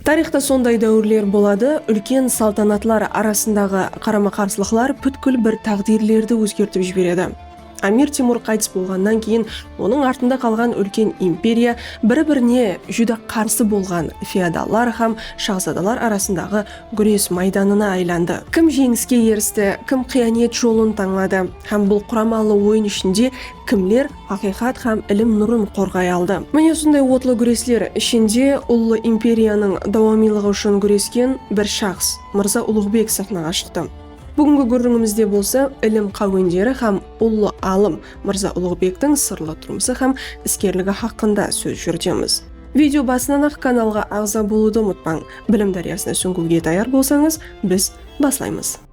Tariyxta sonday dáwirler boladı, úlken saltanatlar arasındaǵı qarama-qarsılıqlar pútkil bir táǵdirlerdi ózgertip jiberedi. Amir Temur qaytıs bolǵannan keyin onıń artında qalǵan úlken imperiya biri-birine júdá qarsı bolǵan feodallar hám shaxzadalar arasındaǵı gúres maydanına aylandı. Kim jeńiske eristi, kim qıyanet jolın tańladı hám bul quramalı oyın ishinde kimler Haqıyqat hám ilim nurın qorǵay aldı. Mine usınday otlı gúresler ishinde ullı imperiyanıń dawamıylıǵı ushın gúresken bir shaxs, Mırza Uluǵbek saxnaǵa shıqtı. Búgingi gúrrińimizde bolsa ilim qáwenderi hám ullı alım Mırza Uluǵbektiń sırlı turmısı hám iskerligi haqqında sóz júritemiz. Video basınan-aq kanalǵa aǵza bolıwdı umıtpań. Bilim dáryasına súńgiwge tayar bolsańız, biz baslaymız.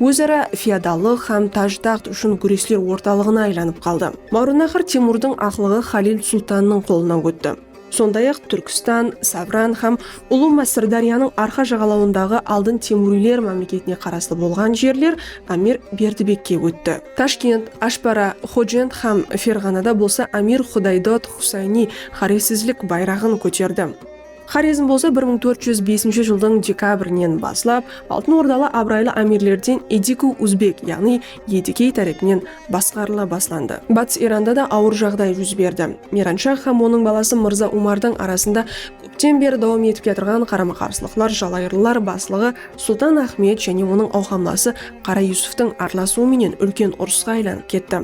Óz-ara feodallıq hám taj-taxt ushın gúresler ortalıǵına aylanıp qaldı. Máwrannahır Temurdıń aqlıǵı Xalil Sultannıń qolına ótti. Sonday-aq, Túrkstan, Sabran hám Ulı Má Sırdáryanıń arqa jaǵalawındaǵı aldın temuriyler mámleketine qaraslı bolǵan jerler Ámir Berdibekke ótti. Tashkent, Ashbara, Xojent hám Ferǵanada bolsa Ámir Xudaydod Xusayni xorezsizlik bayraǵın kóterdi. Xorezm bolsa bir mıń tórt júz besinshi jıldıń dekabrinen baslap Altın Ordalı abıraylı ámirlerden Ediku Uzbek yaǵnıy Edikey tárepinen basqarıla baslandı. Batıs Iranda da awır jaǵday júz berdi. Miranshah hám onıń balası Mırza Umardıń arasında kópten beri dawam etip kiyatırǵan qarama-qarsılıqlar jalayırlılar baslıǵı Sultan Axmed jáne onıń awqamlası Qara Yusuftıń aralasıwı menen úlken urısqa aylanıp ketti.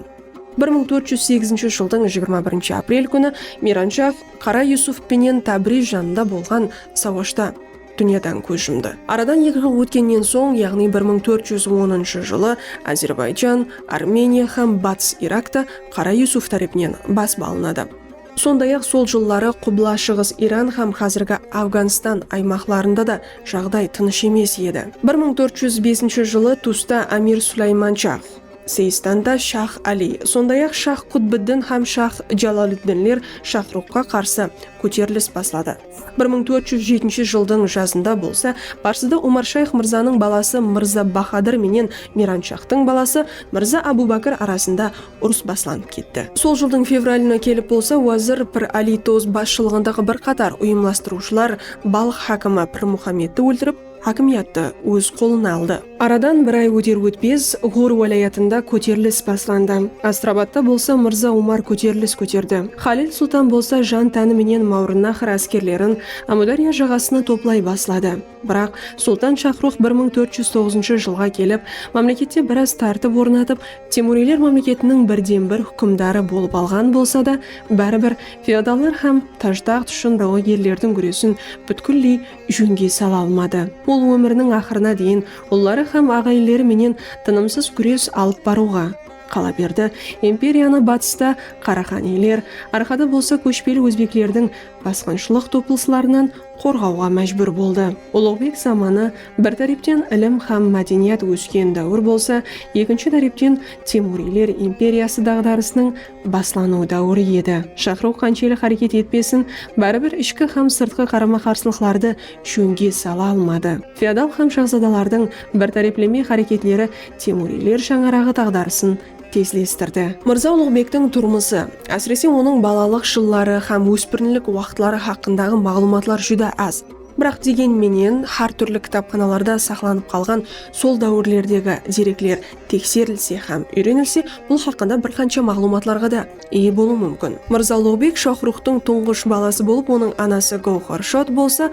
Bir mıń tórt júz sekizinshi jıldıń jigirma birinshi aprel kúni Miranshah, Qara Yusuf penen Tábriz janında bolǵan sawashta dúnyadan kóz jumdı. Aradan eki jıl ótkennen soń, yaǵnıy bir mıń tórt júz onınshı jılı Ázerbayjan, Armeniya hám Batıs Irak ta Qara Yusuf tárepinen basıp alınadı. Sonday-aq, sol jılları Qubla-Shıǵıs Iran hám házirgi Afǵanstan aymaqlarında da jaǵday tınısh emes edi. Bir mıń tórt júz besinshi jılı tusta Amir Sulaymanshah, Seistanda shax Ali, sonday-aq shax Qutbiddin hám shax Jaloliddinler Shaxruxqa qarsı kóterilis basladı. Bir mıń tórt júz jetinshi jıldıń jazında bolsa Parsıda Omarshayx mırzanıń balası Mırza Bahadır menen Miranshaxtıń balası Mırza Abu Bakr arasında urıs baslanıp ketti. Sol jıldıń fevralına kelip bolsa wazir Pir Ali Toz basshılıǵındaǵı bir qatar uyımlastırıwshılar Balx hákimi Pir Muxammedti óltirip, Hákimiyattı óz qolına aldı. Aradan bir ay óter-ótpez Ǵor wálayatında kóterilis baslandı. Astrabatta bolsa Mırza Umar kóterilis kóterdi. Xalil Sultan bolsa jan-tánı menen Mawrınnahr áskerlerin Ámudárya jaǵasına toplay basladı. Biraq, Sultan Shaxruh bir mıń tórt júz toǵızınshı jılǵa kelip, mámlekette biraz tártip ornatıp, Temuriyler mámleketiniń birden-bir húkimdarı bolıp alǵan bolsa da, báribir feodallar hám Taj-taxt ushın dawagerlerdiń gúresin pútkilley jónge sala almadı. Ol ómiriniń aqırına deyin ulları hám aǵayinleri menen tınımsız gúres alıp barıwǵa, qalaberdi, imperiyanı batısta Qaraxaniyler, arqada bolsa kóshpeli ózbeklerdiń basqınshılıq topılıslarınan qorǵawǵa májbúr boldı. Uluǵbek zamanı, bir tárepten ilim hám mádeniyat ósken dáwir bolsa, ekinshi tárepten Temuriyler imperiyası daǵdarısınıń baslanıw dáwiri edi. Shaqırıw qanshelli háreket etpesin, báribir ishki hám sırtqı qarama-qarsılıqlardı jónge sala almadı. Feodal hám shahzadalardıń bir tárepleme háreketleri Temuriyler shańaraǵı taǵdarısın tezlestirdi. Mırza Uluǵbektiń turmısı, ásirese onıń balalıq jılları hám óspirinlik waqıtları haqqındaǵı maǵlıwmatlar júdá az. Biraq degen menen, hár túrli kitapxanalarda saqlanıp qalǵan sol dáwirlerdegi derekler tekserilse hám úyrenilse bul haqqında bir qansha maǵlıwmatlarǵa da iye bolıw múmkin. Mırza Uluǵbek Shaxruxtıń tuńǵısh balası bolıp onıń anası Gawxarshod bolsa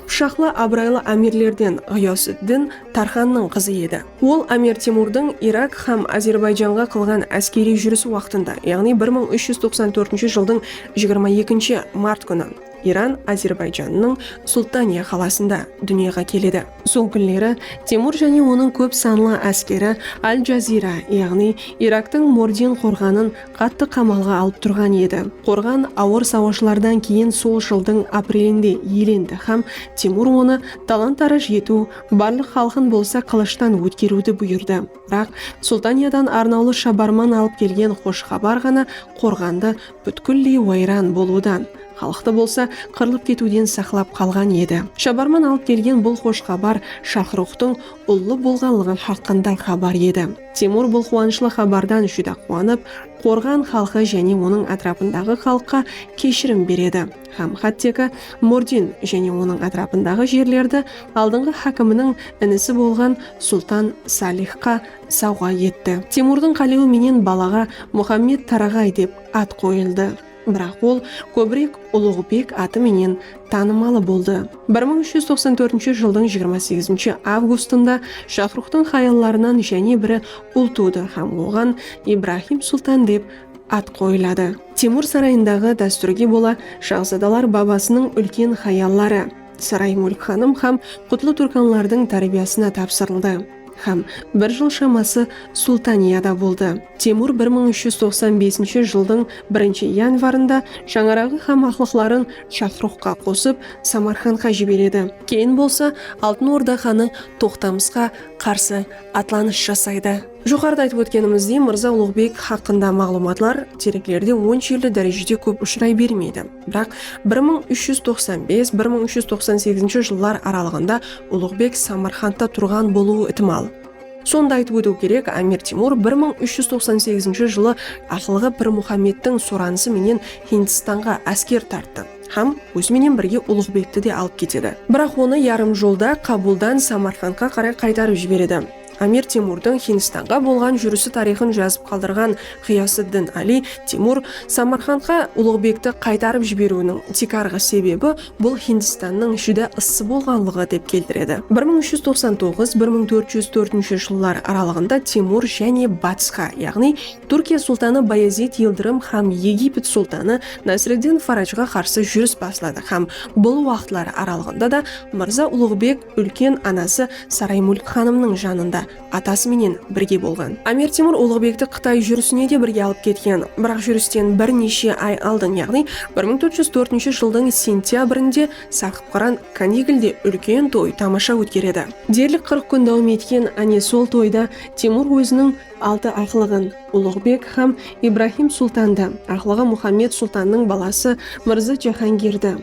qıpshaqlı abıraylı ámirlerden Ǵıyasıddin Tarxannıń qızı edi. Ol Ámir Temurdıń Irak hám Ázerbayjanǵa qılǵan áskeriy júrisi waqtında, yaǵnıy bir mıń úsh júz toqsan tórtinshi jıldıń jigirma ekinshi mart kúni, Iran Ázerbayjannıń Sultaniya qalasında dúnyaǵa keledi. Sol kúnleri Temur jáne onıń kóp sanlı áskeri Al-Jazira, yaǵnıy Iraktıń Mordin qorǵanın qattı qamalǵa alıp turǵan edi. Qorǵan awır sawashlardan keyin sol jıldıń aprelinde ielendi hám Temur onı talan-taraj etiw, barlıq xalqın bolsa qılıshtan ótkeriwdi buyırdı. Biraq Sultaniyadan arnawlı shabarman alıp kelgen xosh xabar ǵana qorǵandı pútkilley wayran bolıwdan, xalıqtı bolsa qırılıp ketiwden saqlap qalǵan edi. Shabarman alıp kelgen bul xosh xabar Shaxruxtıń ullı bolǵanlıǵı haqqında xabar edi. Temur bul quwanıshlı xabardan júdá quwanıp, Qorǵan xalqı jáne onıń átirapındaǵı xalıqqa keshirim beredi hám hátteki Mordin jáne onıń átirapındaǵı jerlerdi aldınǵı hákiminiń inisi bolǵan Sultan Salixqa sawǵa etti. Temurdıń qálewi menen balaǵa Muxammed Taraǵay dep at qoyıldı. Biraq ol kóbirek Uluǵbek atı menen tanımalı boldı. Bir mıń úsh júz toqsan tórtinshi jıldıń jigirma segizinshi avgustında Shaxruxtıń xayallarınan jáne biri ul tuwdı hám oǵan Ibrahim Sultan dep at qoyıladı. Temur sarayındaǵı dástúrge bola shaxzadalar babasınıń úlken xayalları, Saray Múlk xanım hám Qutlı Túrkanlardıń tárbiyasına tapsırıldı. Hám bir jıl shaması Sultaniyada boldı. Temur bir mıń úsh júz toqsan besinshi jıldıń birinshi yanvarında shańaraǵı hám aqlıqların Shaxruxqa qosıp, Samarqandqa jiberedi. Keyin bolsa Altın Orda xanı Toqtamısqa qarsı atlanıs jasaydı. Joqarıda aytıp ótkenimizdey, Mırza Uluǵbek haqqında maǵlıwmatlar tereklerde onshelli dárejede kóp ushıray bermeydi. Biraq bir mıń úsh júz toqsan bes, bir mıń úsh júz toqsan segizinshi jıllar aralıǵında Uluǵbek Samarqandta turǵan bolıwı itimal. Sonda aytıp ótiw kerek, Ámir Temur bir mıń úsh júz toqsan segizinshi jılı aqılǵı Pir Muxamedtiń soranısı menen Hindistanǵa ásker tarttı hám ózi menen birge Uluǵbekti de alıp ketedi. Biraq onı yarım jolda Kabuldan Samarqandqa qaray qaytarıp jiberedi. Amir Temurdıń Hindistanǵa bolǵan júrisi tariyxın jazıp qaldırǵan Ǵıyasıddin Ali Temur Samarqandqa Ulıǵbekti qaytarıp jiberiwiniń tiykarǵı sebebi bul Hindistannıń júdá ıssı bolǵanlıǵı dep keltiredi. Bir mıń úsh júz toqsan toǵız, bir mıń tórt júz tórtinshi jıllar aralıǵında Temur jáne batısqa, yaǵnıy Túrkiya sultanı Bayazid Yıldırım hám Egipet sultanı Nasriddin Farajǵa qarsı júris basladı hám bul waqıtları aralıǵında da Mırza Ulıǵbek Úlken anası Saraymúlk xanımnıń janında atası menen birge bolǵan. Amir Temur Ulıǵbekti Qıtay júrisine de birge alıp ketken. Biraq júristen bir neshe ay aldın, yaǵnıy bir mıń tórt júz tórtinshi jıldıń sentyabrinde Saqıpqıran Kanigilde úlken toy tamasha ótkeredi. Derlik qırq kún dawam etken, áne sol toyda Temur óziniń altı aqlıǵın, Ulıǵbek hám Ibrahim Sultandı, aqlıǵı Muxammed Sultannıń balası Mırza Jahangirdi,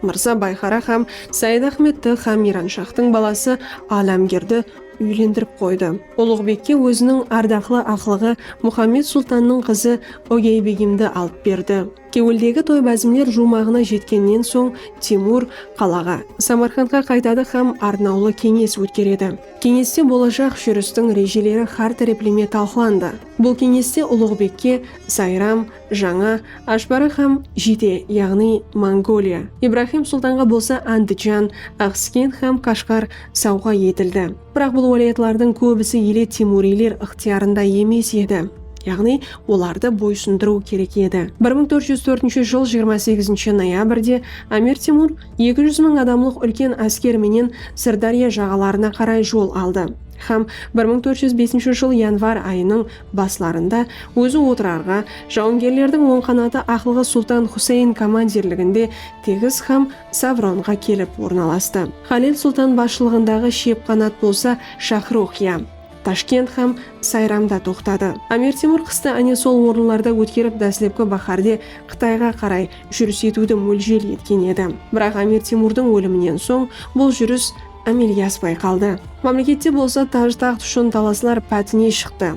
Mırza Bayxara xám Sayıdaxmetti xám Miyranshaxtıń balası Álámgerdi úylendirip qoydı. Ulıǵbekke óziniń ardaqlı aqlıǵı Muxammed sultannıń qızı Ógeybegimdi alıp berdi. Kewildegi toy-bázimler juwmaǵına jetkennen soń Temur qalaǵa, Samarqandqa qaytadı xám arnawlı keńes ótkeredi. Keńeste bolajaq júristiń rejeleri xár tárepleme talqılandı. Bul keńeste Ulıǵbekke Sayram, Jańa Ashbarı hám Jide, yaǵnıy Mongoliya, Ibrahim Sultanǵa bolsa Andijan, Axsken hám Kashgar sawǵa etildi. Biraq bul wálayatlardıń kóbisi ele temuriyler ıqtıyarında emes edi, yaǵnıy olardı boysındırıw kerek edi. Bir mıń tórt júz tórtinshi jıl jigirma segizinshi noyabrde Amir Temur eki júz mıń adamlıq úlken ásker menen Sırdárya jaǵalarına qaray jol aldı hám bir mıń tórt júz besinshi jıl yanvar ayınıń Baslarında ózi otırarǵa, jawıngerlerdiń oń qanatı aqılǵa Sultan Xuseyn komandirliginde Tegiz hám Savronǵa kelip ornalastı. Xalil Sultan basshılıǵındaǵı shep qanat bolsa Shaxruxiya, Tashkent hám Sayramda toqtadı. Amir Temur qıstı áne sol orınlarda ótkerip dáslepki báhárde Qıtayǵa qaray júris etiwdi móljel etken edi. Biraq Amir Temurdıń óliminen soń bul júris ámelge aspay qaldı. Mámlekette bolsa táj-taxt ushın talaslar pátine shıqtı.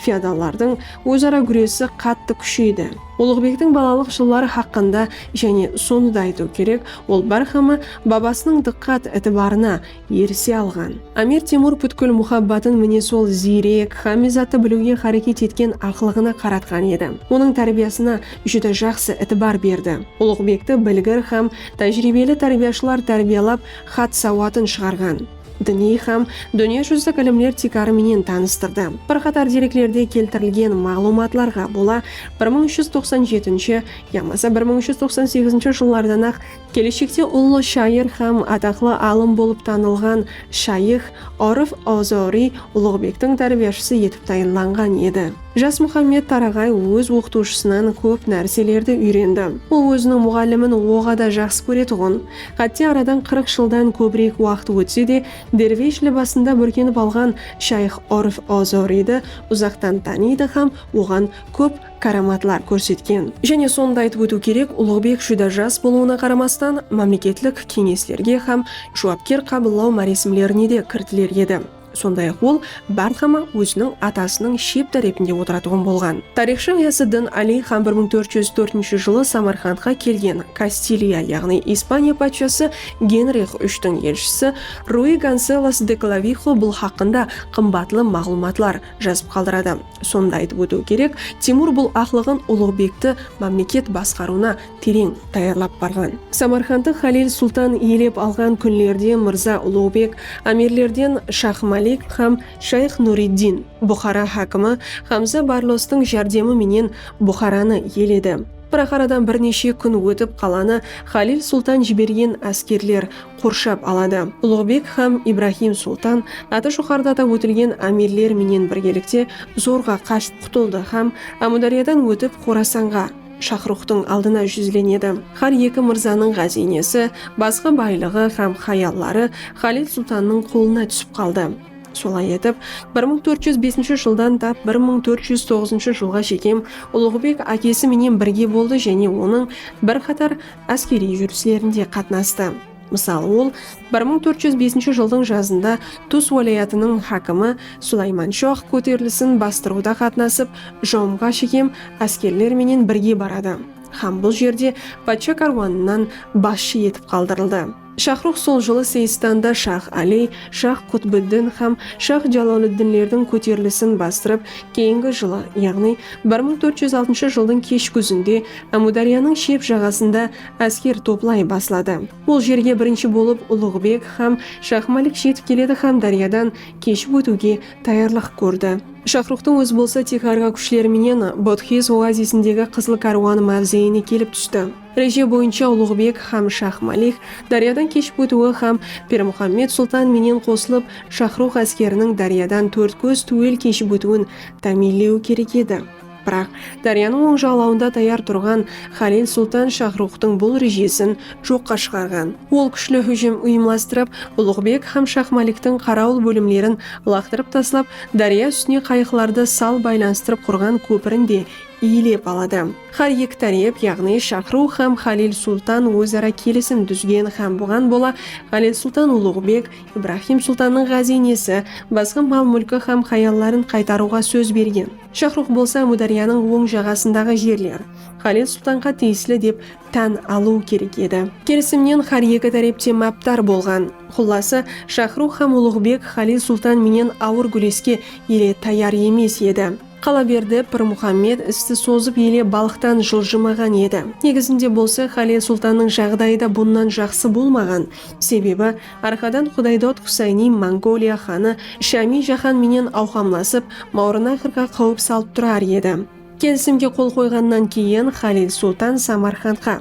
Feodallardıń óz-ara gúresi qattı kúsheydi. Ulıǵbektiń balalıq jılları haqqında jáne sonı da aytıw kerek, ol bárxáma babasınıń dıqqat, itibarına erise alǵan. Ámir Temur pútkil muhabbatın mine sol ziyrek hámme zattı biliwge háreket etken aqılıǵına qaratqan edi. Onıń tárbiyasına júdá jaqsı itibar berdi. Ulıǵbekti bilgir hám tájiriybeli tárbiyashılar tárbiyalap, Xat sawatın shıǵarǵan. Diniy hám dúnya júzilik ilimler tiykarı menen tanıstırdı. Bir qatar dereklerde keltirilgen maǵlıwmatlarǵa bola bir mıń úsh júz toqsan jetinshi yamasa bir mıń úsh júz toqsan segizinshi jıllardan-aq keleshekte ullı shayır hám ataqlı alım bolıp tanılǵan shayıx Orif Ozoriy Uluǵbektiń tárbiyashısı etip tayınlanǵan edi. Jas Muxammed Taraǵay óz oqıtıwshısınan kóp nárselerdi úyrendi. Ol óziniń muǵallimin oǵada jaqsı kóretuǵın, Xátte aradan qırıq jıldan kóbirek waqıt ótse de, dervesh libasında búrkenip alǵan shayx Orf Ozoriydi uzaqtan tanıydı hám oǵan kóp káramatlar kórsetken. Jáne sonıda aytıp ótiw kerek, Uluǵbek júdá jas bolıwına qaramastan, mámleketlik keńeslerge hám juwapker qabıllaw máresimlerinede kiritiler edi. Sonday-aq, ol bárhama óziniń atasınıń shep tárepinde otıratuǵın bolǵan. Tariyxshı Ǵıyasıddin Aliy xan bir mıń tórt júz tórtinshi jılı Samarqandqa kelgen Kastiliya, yaǵnıy Ispaniya patshası Genrix úshtiń elshisi Rui Gonselos de Klavixo bul haqqında qımbatlı maǵlıwmatlar jazıp qaldıradı. Sonı da aytıp ótiw kerek, Temur bul aqlıǵın Uluǵbekti mámleket basqarıwına tereń tayarlap barǵan. Samarqandtı Xalil sultan iyelep alǵan kúnlerde Mırza Uluǵbek ámirlerden Shah Malik hám Shayx Nuriddin, Buxara hákimi Hamza Barlostıń járdemi menen Buxaranı iyeledi. Biraq aradan bir neshe kún ótip qalanı Xalil sultan jibergen áskerler qorshap aladı. Uluǵbek hám Ibrahim Sultan atı joqarıdada ótilgen ámirler menen birgelikte zorǵa qashıp qutıldı hám Ámúdáryadan ótip Xorasanǵa, Shaxruxtıń aldına júzlenedi. Hár eki mırzanıń ǵáziynesi, basqı baylıǵı hám hayalları Xalid Sultannıń qolına túsip qaldı. Solay etip, bir mıń tórt júz besinshi jıldan tap bir mıń tórt júz toǵızınshı jılǵa shekem Uluǵbek ákesi menen birge boldı jáne onıń bir qatar Áskeriy júrislerinde qatnastı. Mısal, ol bir mıń tórt júz besinshi jıldıń jazında Tus wálayatınıń hákimi Sulaymanshox kóterilisin bastırıwda qatnasıp, Jomǵa shekem áskerler menen birge baradı hám bul jerde patsha kárwanınan basshı etip qaldırıldı. Shaxrux sol jılı Seyistanda shax Ali, shax Qutbiddin hám shax Jaloliddinlerdiń kóterilisin bastırıp, keyingi jılı, yaǵnıy bir mıń tórt júz altınshı jıldıń kesh gúzinde Ámudaryanıń shep jaǵasında ásker toplay basladı. Bul jerge birinshi bolıp Uluǵbek hám shax Malik jetip keledi hám dáryadan keship ótiwge tayarlıq kórdi. Shaxruxtıń ózi bolsa Tixarǵa kúshleri menen Bodxiz oazisindegi Qızıl kárwanı máwzeyine kelip tústi. Reje boyınsha Uluǵbek hám Shax Malik dáryadan keship ótiwi hám Pirmuxammed Sultan menen qosılıp Shaxrux áskeriniń dáryadan Tórtkóz túwel keship ótiwin támiyinlewi kerek edi. Biraq, dáryanıń oń jaǵlawında tayar turǵan Xalil Sultan Shaxruxtıń bul rejesin joqqa shıǵarǵan. Ol kúshli hújim uyımlastırıp, Uluǵbek hám Shax Maliktiń qarawıl bólimlerin laqtırıp taslap, dárya ústine qayıqlardı sal baylanıstırıp qurǵan kópirin de iyelep aladı. Hár eki tárep, yaǵnıy Shaxruw hám Xalil Sultan óz-ara kelisim dúzgen hám buǵan bola Xalil Sultan Uluǵbek, Ibrahim Sultannıń ǵáziynesi, basqa mal-múlki hám hayalların qaytarıwǵa sóz bergen. Shaxruw bolsa Ámudáryanıń oń jaǵasındaǵı jerler Xalil Sultanǵa tiyisli dep tán alıw kerek edi. Kelisimnen hár eki tárep te mápdar bolǵan. Xullası, Shaxruw hám Uluǵbek Xalil Sultan menen awır gúreske ele tayar emes edi. Qalaberdi, Pirmuxammed isti sozıp ele balıqtan jıljımaǵan edi. Negizinde bolsa Xalel sultannıń jaǵdayı da bunnan jaqsı bolmaǵan. Sebebi, arqadan Xudaydod Xusayni Mongoliya xanı Shami Jaxan menen awqamlasıp, Mawrınaxrǵa qáwip salıp turar edi. Kelisimge qol qoyǵannan keyin Xalel sultan Samarqandqa,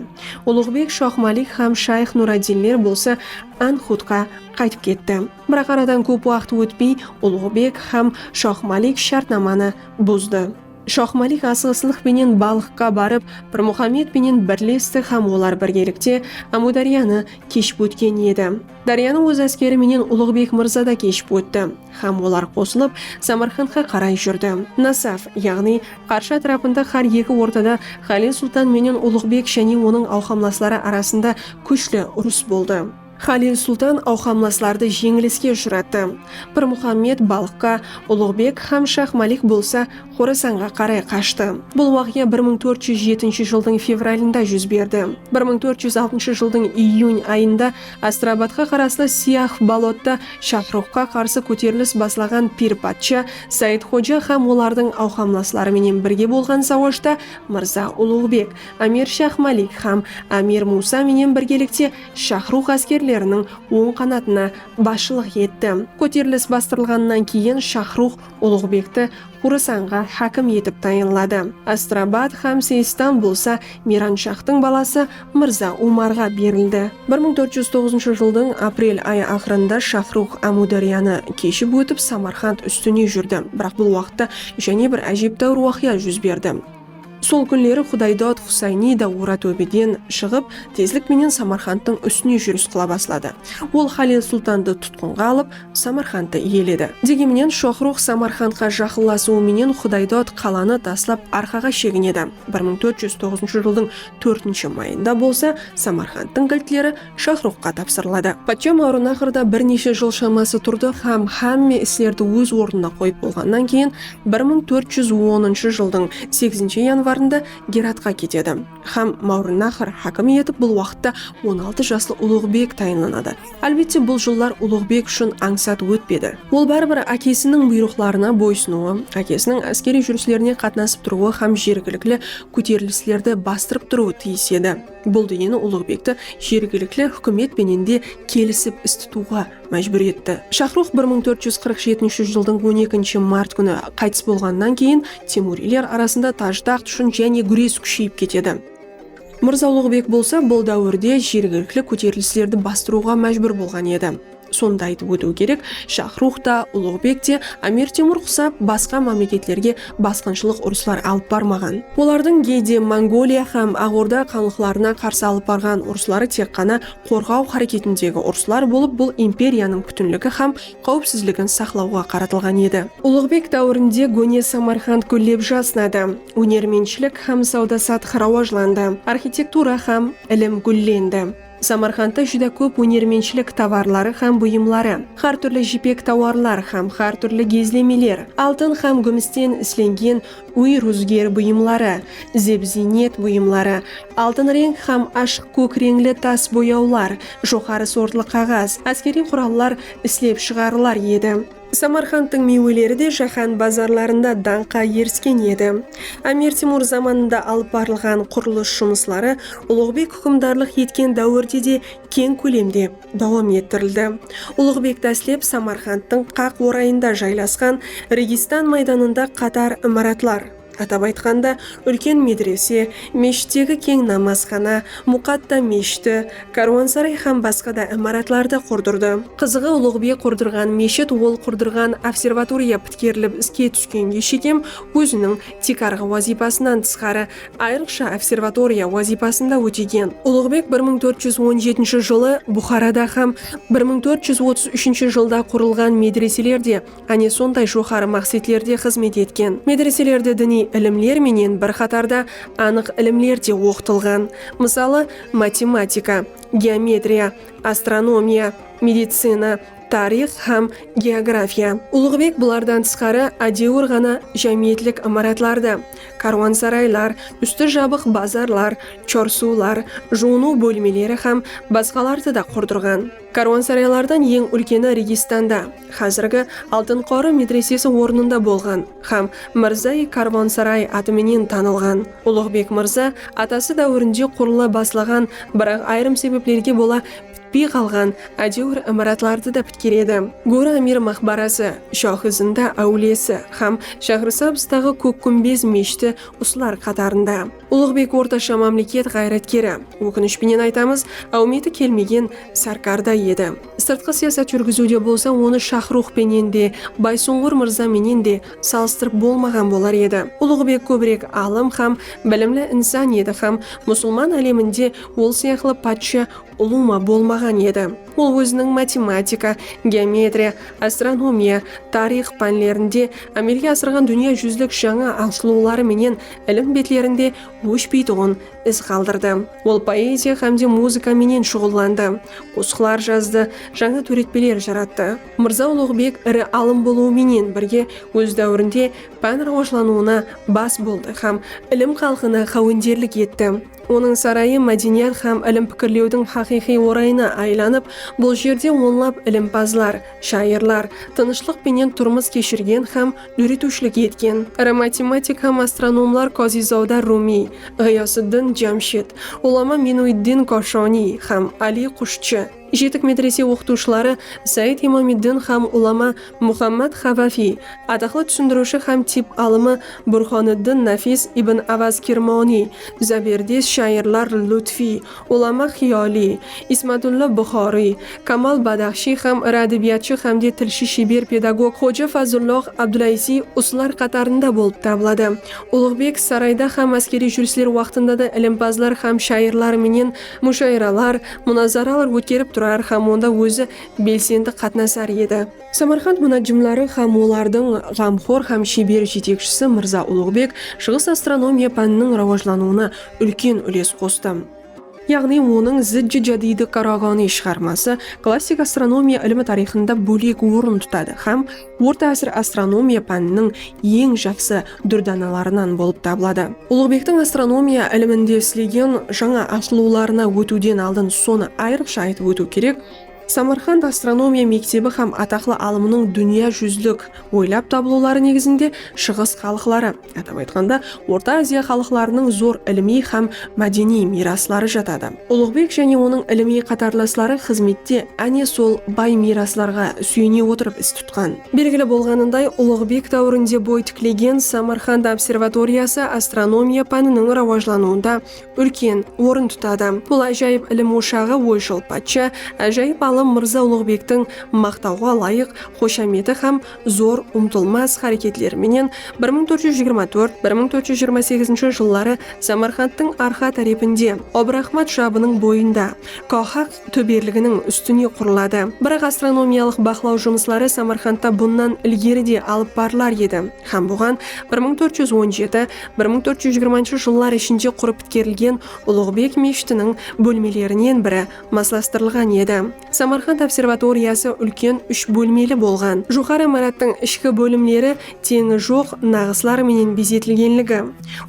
Uluǵbek, Shoxmalik hám Shayx Nuraddinler bolsa Anhutqa qaytıp ketti. Biraq aradan kóp waqıt ótpey Ulǵıbek hám Shoxmalik shártnamanı buzdı. Shoxmalik asıǵıslıq penen Balıqqa barıp, Pirmuxammed penen birlesti hám olar birgelikte Ámúdáryanı keship ótken edi. Dáryanı óz áskeri menen Ulıǵbek mırza da keship ótti hám olar qosılıp Samarqandqa qaray júrdi. Nasaf, yaǵnıy Qarshı átirapında hár eki ortada Xalil Sultan menen Ulıǵbek jáne onıń awqamlasları arasında kúshli urıs boldı. Xalil sultan awqamlaslardı jeńiliske ushırattı. Pirmuxammed Balıqqa, Uluǵbek hám Shax Malik bolsa Xorasanǵa qaray qashtı. Bul waqıya bir mıń tórt júz jetinshi jıldıń fevralında júz berdi. Bir mıń tórt júz altınshı jıldıń iyun ayında Astrabadqa qaraslı Siyah bolotta Shaxruxqa qarsı kóterilis baslaǵan Pir patsha Saidxoja hám olardıń awqamlasları menen birge bolǵan sawashta Mırza Uluǵbek, Amir Shax Malik hám Amir Musa menen birgelikte Shaxruq áskerleriniń oń qanatına basshılıq etti. Kóterilis bastırılǵannan keyin Shaxruq Uluǵbekti Xurasanǵa hákim etip tayınladı. Astrabad hám Seystan bolsa Miyranshaxtıń balası Mırza Umarǵa berildi. Bir mıń tórt júz toǵızınshı jıldıń aprel ayı aqırında Shaxruq Ámiwdáryanı keship ótip Samarqand ústine júrdi. Biraq bul waqıtta jáne bir ájeptáwir waqıya júz berdi. Sol kúnleri Xudaydod Xusayniy da Oratóbeden shıǵıp, tezlik menen Samarqandtıń ústine júris qıla basladı. Ol Xalil Sultandı tutqınǵa alıp, Samarqandtı iyeledi. Degi menen, Shoxrux Samarqandqa jaqınlasıwı menen Xudaydod qalanı taslap arqaǵa sheginedi. Bir mıń tórt júz toǵızınshı jıldıń tórtinshi mayında bolsa Samarqandtıń giltleri Shaxruxqa tapsırıladı. Patsha Mawrınaxrda bir neshe jıl shaması turdı hám hámme islerdi óz ornına qoyıp bolǵannan keyin bir mıń tórt júz onınshı jıldıń segizinshi yanvarında Geratqa ketedi hám Mawrınaxr hákimi etip bul waqıtta on altı jaslı Uluǵbek tayınlanadı. Álbette, bul jıllar Uluǵbek ushın ańsat ótpedi. Ol báribir ákesiniń buyrıqlarına boysınıwı, ákesiniń áskeriy júrislerine qatnasıp turıwı hám jergilikli kóterilislerdi bastırıp turıwı tiyis edi. Bul dúyeni Uluǵbekti jergilikli húkimet penen de kelisip is tutıwǵa májbúr etti. Shaxrux bir mıń tórt júz qırq jetinshi jıldıń on ekinshi mart kúni qaytıs bolǵanınan keyin temuriyler arasında taj-taxt ushın jáne gúres kúsheyip ketedi. Mırza Uluǵbek bolsa bul dáwirde jergilikli kóterilislerdi bastırıwǵa májbúr bolǵan edi. Sonda aytıp ótiw kerek, Shaxrux ta, Uluǵbek te, Amir Temur qusap, basqa mámleketlerge basqınshılıq urıslar alıp barmaǵan. Olardıń gey de Mongoliya hám Aq Orda xanlıqlarına qarsı alıp barǵan urısları tek ǵana qorǵaw háreketindegi urıslar bolıp, bul imperiyanıń pútinligi hám qáwipsizligin saqlawǵa qaratılǵan edi. Uluǵbek dáwirinde góne Samarqand gúllep jasnadı, ónermentshilik hám sawda-satıq rawajlandı, arxitektura hám ilim gúllendi. Samarqandta júdá kóp ónermentshilik tovarları hám buyımları, hár túrli jipek tovarlar hám hár túrli gezlemeler, altın hám gúmisten islengen úy rúzger buyımları, zeb-ziynet buyımları, altın reń hám ashıq kók reńli tas boyawlar, joqarı sortlı qaǵaz, áskeriy qurallar islep shıǵarılar edi. Samarqandtıń miyweleri de jáhán bazarlarında dańqqa erisken edi. Ámir Temur zamanında alıp barılǵan qurılıs jumısları Ulıǵbek húkimdarlıq etken dáwirde de keń kólemde dawam ettirildi. Ulıǵbek dáslep Samarqandtıń qaq orayında jaylasqan Registan maydanında qatar imaratlar. Atap aytqanda, úlken medrese, meshittegi keń namazxana, Muqatta meshiti, kárwansaray hám basqa da imaratlardı qurdırdı. Qızıǵı, Uluǵbek qurdırǵan meshit ol qurdırǵan observatoriya pitkerilip iske túskenge shekem óziniń tiykarǵı wazıypasınan tısqarı ayrıqsha observatoriya wazıypasın da ótegen. Uluǵbek bir mıń tórt júz on jetinshi jılı Buxarada hám bir mıń tórt júz otız úshinshi jılda qurılǵan medreseler de Áne sonday joqarı maqsetlerde xızmet etken medreselerde diniy ilimler menen bir qatarda anıq ilimler de oqıtılǵan, mısalı, matematika, geometriya, astronomiya, medicina, tariyx hám geografiya. Ulıǵbek bulardan tısqarı ádewir ǵana jámiyetlik imaratlardı, kárwansaraylar, ústi jabıq bazarlar, chorsular, juwınıw bólmeleri hám basqalardı da qurdırǵan. Kárwansaraylardan eń úlkeni Registanda, házirgi Altın qorı medresesi ornında bolǵan hám Mirzai kárwansaray atı menen tanılǵan. Uluǵbek mırza atası dáwirinde qurıla baslaǵan, biraq ayırım sebeplerge bola pitpey qalǵan ádewir imaratlardı da pitkeredi. Góra amir maqbarası, Shoxi-zinda áwliyesi hám Shaxrisabzdaǵı Kók kúmbez meshiti usılar qatarında. Ulıǵbek ortasha mámleket ǵayratkeri, ókinish penen aytamız, áwmeti kelmegen sárkar da edi. Sırtqı siyasat júrgiziwde bolsa onı Shaxruh penen de, Baysuńǵır mırza menen de salıstırıp bolmaǵan bolar edi. Ulıǵbek kóbirek alım hám bilimli insan edi hám musılman áleminde ol sıyaqlı patsha ulıwma bolmaǵan edi. Ol óziniń matematika, geometriya, astronomiya, tariyx pánlerinde ámelge asırǵan dúnya júzlik jańa asılıwları menen ilim betlerinde óshpeytuǵın iz qaldırdı. Ol poeziya hám de muzıka menen shuǵıllandı, qosıqlar jazdı, jańa tóretpeler jarattı. Mırza Uluǵbek iri alım bolıwı menen birge óz dáwirinde pán rawajlanıwına bas boldı hám ilim xalqına xáwenderlik etti. Onıń sarayı mádeniyat hám ilim pikirlewdiń haqıyqıy orayına aylanıp, bul jerde onlap ilimpazlar, shayırlar, tınıshlıq penen turmıs keshirgen hám dóretiwshilik etken iri matematik hám astronomlar Kozizawda Rumiy, Ǵıyasıddin Jamshid, ulama Minuiddin Koshoniy hám Ali Qushchi, jetik medrese oqıtıwshıları Said Imamiddin hám ulama Muxammad Xavafiy, ataqlı túsindiriwshi hám tip alımı Burxoniddin Nafis ibn Avaz Kirmoniy, záberdes shayırlar Lutfiy, Ulama Xiyoliy, Ismatulla Buxoriy, Kamal Badaxshiy hám iri ádebiyatshı hámde tilshi sheber pedagog Xoja Fazullox Abdulaiziy usılar qatarında bolıp tabıladı. Uluǵbek sarayda hám áskeriy júrisler waqtında da ilimpazlar hám shayırlar menen mushayıralar, munazaralar ótkerip turar hám onda ózi belsendi qatnasar edi. Samarqand munajjimları hám olardıń ǵamxor hám sheber jetekshisi Mırza Uluǵbek shıǵıs astronomiya pániniń rawajlanıwına úlken úles qostı. Yaǵnıy onıń Zijji jadıydı Karaǵani shıǵarması klassik astronomiya ilimi tariyxında bólek orın tutadı hám Orta ásir astronomiya pániniń eń jaqsı dúrdanalarınan bolıp tabıladı. Uluǵbektiń astronomiya iliminde islegen jańa asılıwlarına ótiwden aldın sonı ayrıqsha aytıp ótiw kerek, Samarqand astronomiya mektebi hám ataqlı alımınıń dúnya júzlik oylap tabılıwları negizinde Shıǵıs xalıqları, atap aytqanda, Orta Aziya xalıqlarınıń zor ilimiy hám mádeniy miyrasları jatadı. Ulıǵbek jáne onıń ilimiy qatarlasları xızmette áne sol bay miyraslarǵa súyene otırıp is tutqan. Belgili bolǵanınday, Ulıǵbek dáwirinde boy tiklegen Samarqand observatoriyası astronomiya pániniń rawajlanıwında úlken orın tutadı. Bul ájayıp ilim oshaǵı oyshıl patsha, ájayıp alım Mırza Uluǵbektiń maqtawǵa layıq xoshameti hám zor umtılmas háreketleri menen bir mıń tórt júz jigirma tórt, bir mıń tórt júz jigirma segizinshi jılları Samarqandtıń Arxa tárepinde, Obraxmat jabınıń boyında, Koxaq, tóberliginiń ústine qurıladı. Biraq astronomiyalıq baqlaw jumısları Samarqandta bunnan ilgeri de alıp barılar edi hám buǵan bir mıń tórt júz on jeti, bir mıń tórt júz jigirmanshı jıllar ishinde qurıp pitkerilgen Uluǵbek meshitiniń bólmelerinen biri maslastırılǵan edi. Samarqand observatoriyası úlken úsh bólmeli bolǵan. Joqarı imarattıń ishki bólimleri teńi joq naǵıslar menen bezetilgenligi,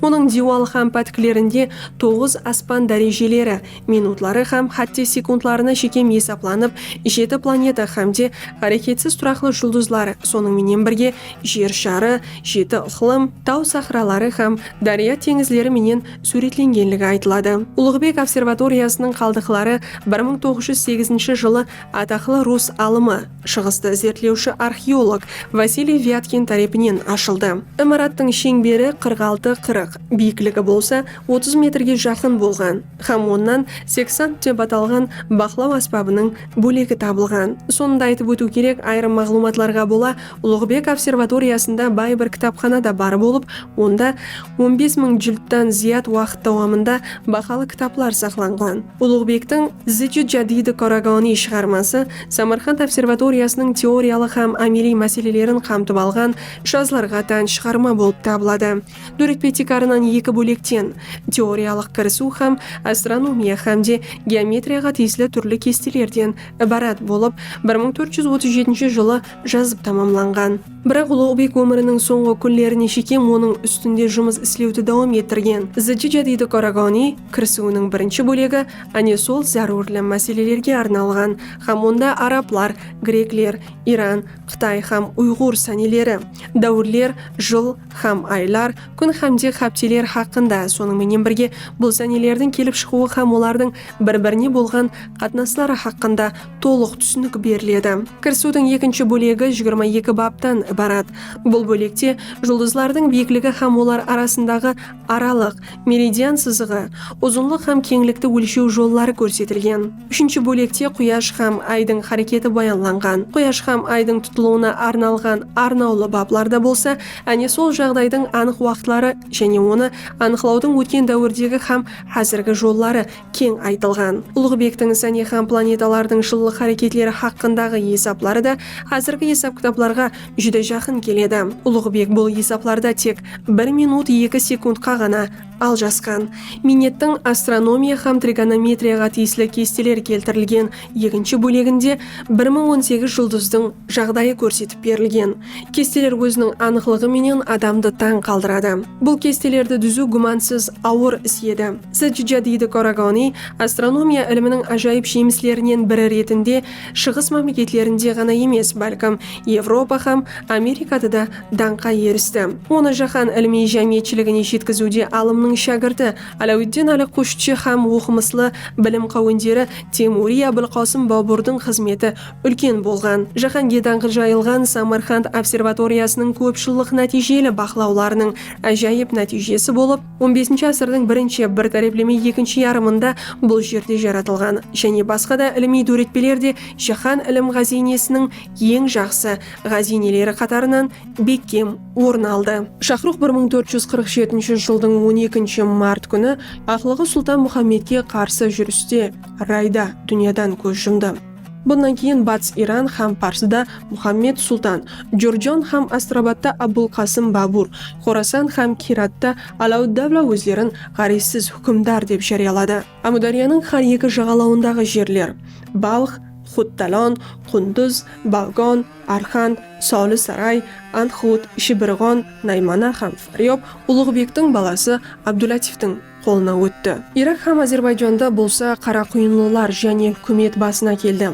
onıń diywalı hám pátiklerinde toǵız aspan dárejeleri, minutları hám hátte sekundlarına shekem esaplanıp, jeti planeta hámde háreketsiz turaqlı juldızlar, sonıń menen birge Jer sharı, jeti ıqlım, taw sahraları hám dárya teńizleri menen súwretlengenligi aytıladı. Ulıǵbek observatoriyasınıń qaldıqları bir mıń toǵız júz segizinshi jılı ataqlı rus alımı, Shıǵıstı izertlewshi arxeolog Vasiliy Vyatkin tárepinen ashıldı. Imarattıń sheńberi qırq altı qırıq, biyikligi bolsa otız metrge jaqın bolǵan hám onnan seksant dep atalǵan baqlaw ásbabınıń bólegi tabılǵan. Sonı da aytıp ótiw kerek, ayırım maǵlıwmatlarǵa bola, Uluǵbek observatoriyasında bay bir kitapxana da bar bolıp, onda on bes mıń jildtan zıyat waqıt dawamında bahalı kitaplar saqlanǵan. Uluǵbektiń Zicit jadidi Karagani shıǵarması Samarqand observatoriyasınıń teoriyalıq hám ámeliy máselelerin qamtıp alǵan jazlarǵa tán shıǵarma bolıp tabıladı. Dóretpe tiykarınan eki bólekten, teoriyalıq kirisiw hám astronomiya hám de geometriyaǵa tiyisli túrli kestelerden ibarat bolıp, bir mıń tórt júz otız jetinshi jılı jazıp tamamlanǵan. Biraq Uluǵbek ómiriniń sońǵı kúnlerine shekem onıń ústinde jumıs islewdi dawam ettirgen. Zıcı jadıydı Karagani kirisiwiniń birinshi bólegi áne sol zárúrli máselelerge arnalǵan hám onda arablar, grekler, Iran, Qıtay hám uyǵur sáneleri, dáwirler, jıl hám aylar, kún hámde hápteler haqqında, sonıń menen birge bul sánelerdiń kelip shıǵıwı hám olardıń bir-birine bolǵan qatnasları haqqında tolıq túsinik beriledi. Kirisiwdiń ekinshi bólegi jigirma eki baptan ibarat. Bul bólekte juldızlardıń biyikligi hám olar arasındaǵı aralıq, meridian sızıǵı, uzınlıq hám keńlikti ólshew jolları kórsetilgen. Úshinshi bólekte Quyash hám Aydıń háreketi bayanlanǵan. Quyash hám Aydıń tutılıwına arnalǵan arnawlı baplarda bolsa áne sol jaǵdaydıń anıq waqıtları jáne onı anıqlawdıń ótken dáwirdegi hám házirgi jolları keń aytılǵan. Ulıǵbektiń Isáne hám planetalardıń jıllıq háreketleri haqqındaǵı esapları da házirgi esap-kitaplarǵa júdá jaqın keledi. Ulıǵbek bul esaplarda tek bir minut eki sekundqa ǵana aljasqan. Miynettiń astronomiya hám trigonometriyaǵa tiyisli kesteler keltirilgen ekinshi bóleginde bir mıń on segiz juldızdıń jaǵdayı kórsetip berilgen. Kesteler óziniń anıqlıǵı menen adamdı tań qaldıradı. Bul kestelerdi dúziw gúmansiz awır is edi. Sdjadidi Koragoniy astronomiya iliminiń ájayıp jemislerinen biri retinde Shıǵıs mámleketlerinde ǵana emes, bálkim, Evropa hám Amerikada da dańqqa eristi. Onı jáhán ilimiy jámiyetshiligine jetkiziwde alımnıń shágirti Aláwitdin Áli Qushchi hám oqımıslı bilim qáwenderi Temuriy Ábilqosım Boburdıń xızmeti Úlken bolǵan, jáhánge dańqı jayılǵan Samarqand observatoriyasınıń kópjıllıq nátiyjeli baqlawlarınıń ájayıp nátiyjesi bolıp, on besinshi ásirdiń birinshi, bir tárepleme ekinshi yarımında bul jerde jaratılǵan jáne basqa da ilimiy dóretpeler de jáhán ilim ǵáziynesiniń eń jaqsı ǵáziyneleri qatarınan bekkem orın aldı. Shaxruq bir mıń tórt júz qırq jetinshi jıldıń on ekinshi mart kúni aqlıǵı Sultan Muxammetke qarsı júriste Rayda dúnyadan kóz jumdı. Bunnan keyin Batıs Iran hám Parsıda Muxammed Sultan, Jorjon hám Astrabatta Abul Qasım Babur, Xorasan hám Kiratta Alauddavla ózlerin ǵárezsiz húkimdar dep járiyaladı. Ámudáryanıń hár eki jaǵalawındaǵı jerler, Balx, Xudtalon, Qunduz, Baǵgon, Arxan, Soli Saray, Andxud, Shibirǵon, Naymana hám Faryob, Uluǵbektiń balası Abdulatiftiń, qolına ótti. Irak hám Ázerbayjanda bolsa Qaraquyınlılar jáne húkimet basına keldi.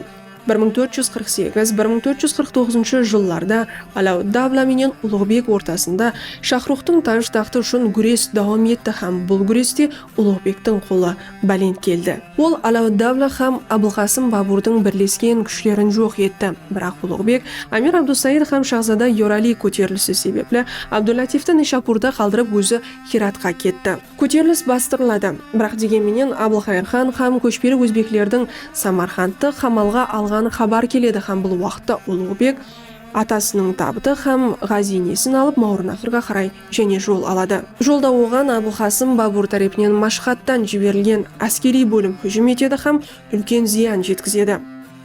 Bir mıń tórt júz qırq segiz, bir mıń tórt júz qırq toǵızınshı jıllarda Aláwid-Davla menen Uluǵbek ortasında Shaxruxtıń táj-taxtı ushın gúres dawam etti hám bul gúreste Uluǵbektiń qolı bálent keldi. Ol Aláwid-Davla hám Abılqasım Baburdıń birlesken kúshlerin joq etti. Biraq Uluǵbek, Amir Abdusaid hám Shaxzada Yorali kóterilisi sebepli Abdul-Látifti Nishapurda qaldırıp ózi Xiratqa ketti. Kóterilis bastırıladı. Biraq degen menen Abılxayır xan xám kóshpeli ózbeklerdiń Samarqandtı qamalǵa alǵanı xabar keledi xám bul waqıtta Uluǵbek atasınıń tabıtı xám ǵáziynesin alıp Mawrınnahırǵa qaray jáne jol aladı. Jolda oǵan Abılqasım Babur tárepinen Mashxadtan jiberilgen áskeriy bólim hújim etedi xám úlken zıyan jetkizedi.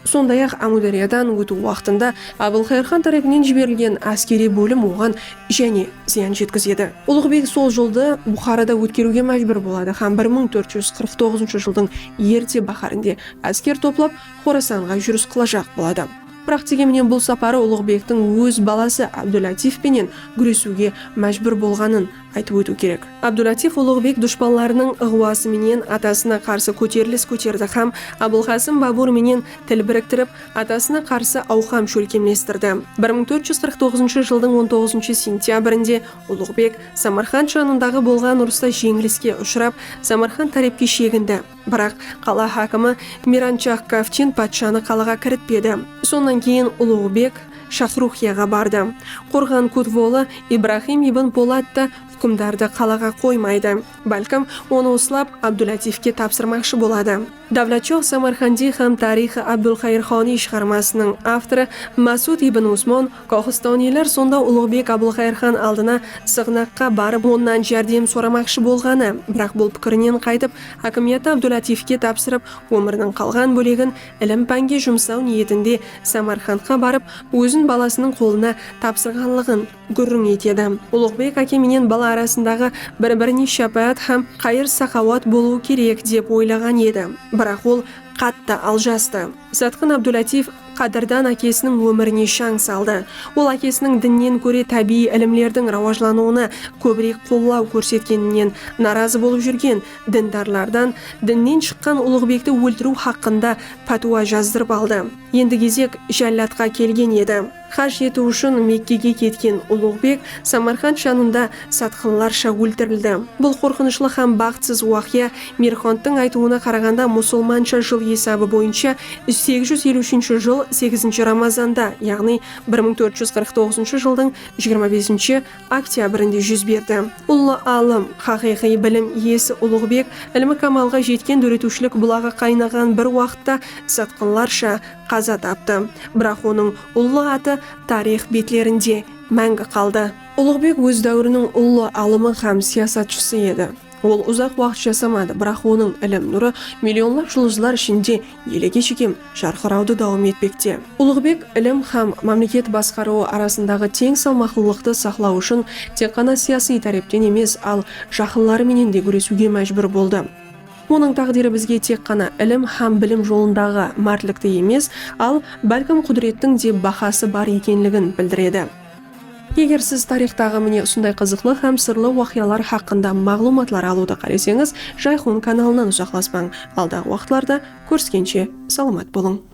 Sonday-aq, Ámudaryadan ótiw waqtında Abılqayır xan tárepinen jiberilgen áskeriy bólim oǵan jáne zıyan jetkizedi. Ulıq beg sol jıldı Buxarada ótkeriwge májbúr boladı hám bir mıń tórt júz qırq toǵızınshı jıldıń erte báhárinde ásker toplap Xorasanǵa júris qılajaq boladı. Biraq degen menen bul saparı Ulıq begtiń óz balası Ábdúlatif penen gúresiwge májbúr bolǵanın aytıp ótiw kerek. Abdulátif Uluǵbek dushpanlarınıń ıǵwası menen atasına qarsı kóterilis kóterdi hám Abılqasım Babur menen til biriktirip, atasına qarsı awqam shólkemlestirdi. Bir mıń tórt júz qırq toǵızınshı jıldıń on toǵızınshı sentyabrinde Uluǵbek Samarqand janındaǵı bolǵan urısta jeńiliske ushırap, Samarqand tárepke shegindi. Biraq, qala hákimi Miranshah Kavchin patshanı qalaǵa kiritpedi. Sonnan keyin Uluǵbek Shaxruxiyaǵa bardı. Qorǵan kutvolı Ibrahim ibn Polat ta húkimdardı qalaǵa qoymaydı. Bálkim, onı uslap, Abdulatifke tapsırmaqshı boladı. Davlatshox Samarqandiy hám Tarixi Abdulxayırxoniy shıǵarmasınıń avtorı Másud ibn Usmon Koxistoniyler sonda Uluǵbek Abulxayırxan aldına sıǵnaqqa barıp onnan járdem soramaqshı bolǵanı, biraq bul pikirinen qaytıp, Hákimiyatı Abdulatifke tapsırıp, ómiriniń qalǵan bólegin ilim-pánge jumsaw niyetinde Samarqandqa barıp, ózin balasınıń qolına tapsırǵanlıǵın gúrriń etedi. Uluǵbek áke menen bala arasındaǵı bir-birine shápáát hám qayır-saqawat bolıwı kerek dep oylaǵan edi. Biraq ol qattı aljastı. Satqın Abdulátiyev qádirdan ákesiniń ómirine shań saldı. Ol ákesiniń dinnen góre tábiyiy ilimlerdiń rawajlanıwına kóbirek qollaw kórsetkeninen narazı bolıp júrgen dindarlardan dinnen shıqqan Ulıǵbekti óltiriw haqqında pátwa jazdırıp aldı. Endi gezek jálladqa kelgen edi. Haj etiw ushın Mekkege ketken Uluǵbek Samarqand janında satqınlarsha óltirildi. Bul qorqınıshlı hám baxıtsız waqıya, Merxanttıń aytıwına qaraǵanda, musulmansha jıl esabı boyınsha segіз júz eliw úshinshi jıl segizinshi Ramazanda, yaǵnıy bir mıń tórt júz qırq toǵızınshı jıldıń jigirma besinshi oktyabrinde júz berdi. Ullı alım, haqıyqıy bilim iyesi Uluǵbek ilmi kamalǵa jetken dóretiwshilik bulaǵı qaynaǵan bir waqıtta satqınlarsha Qaza taptı. Biraq onıń ullı atı tariyx betlerinde máńgi qaldı. Ulıǵbek óz dáwiriniń ullı alımı hám siyasatshısı edi. Ol uzaq waqıt jasamadı, biraq onıń ilim nurı millionlap juldızlar ishinde elege shekem jarqırawdı dawam etpekte. Ulıǵbek ilim hám mámleket basqarıwı arasındaǵı teń salmaqlılıqtı saqlaw ushın tek ǵana siyasıy tárepten emes, al jaqınları menen de gúresiwge májbúr boldı. Onıń táǵdiri bizge tek ǵana ilim hám bilim jolındaǵı mártlikti emes, al, bálkim qúdirettiń de bahası bar ekenligin bildiredi. Eger siz tariyxtaǵı mine usınday qızıqlı hám sırlı waqıyalar haqqında maǵlıwmatlar alıwdı qáleseńiz, Jayxun kanalınan uzaqlaspań. Aldaǵı waqıtlarda kóriskenshe, salamat bolıń!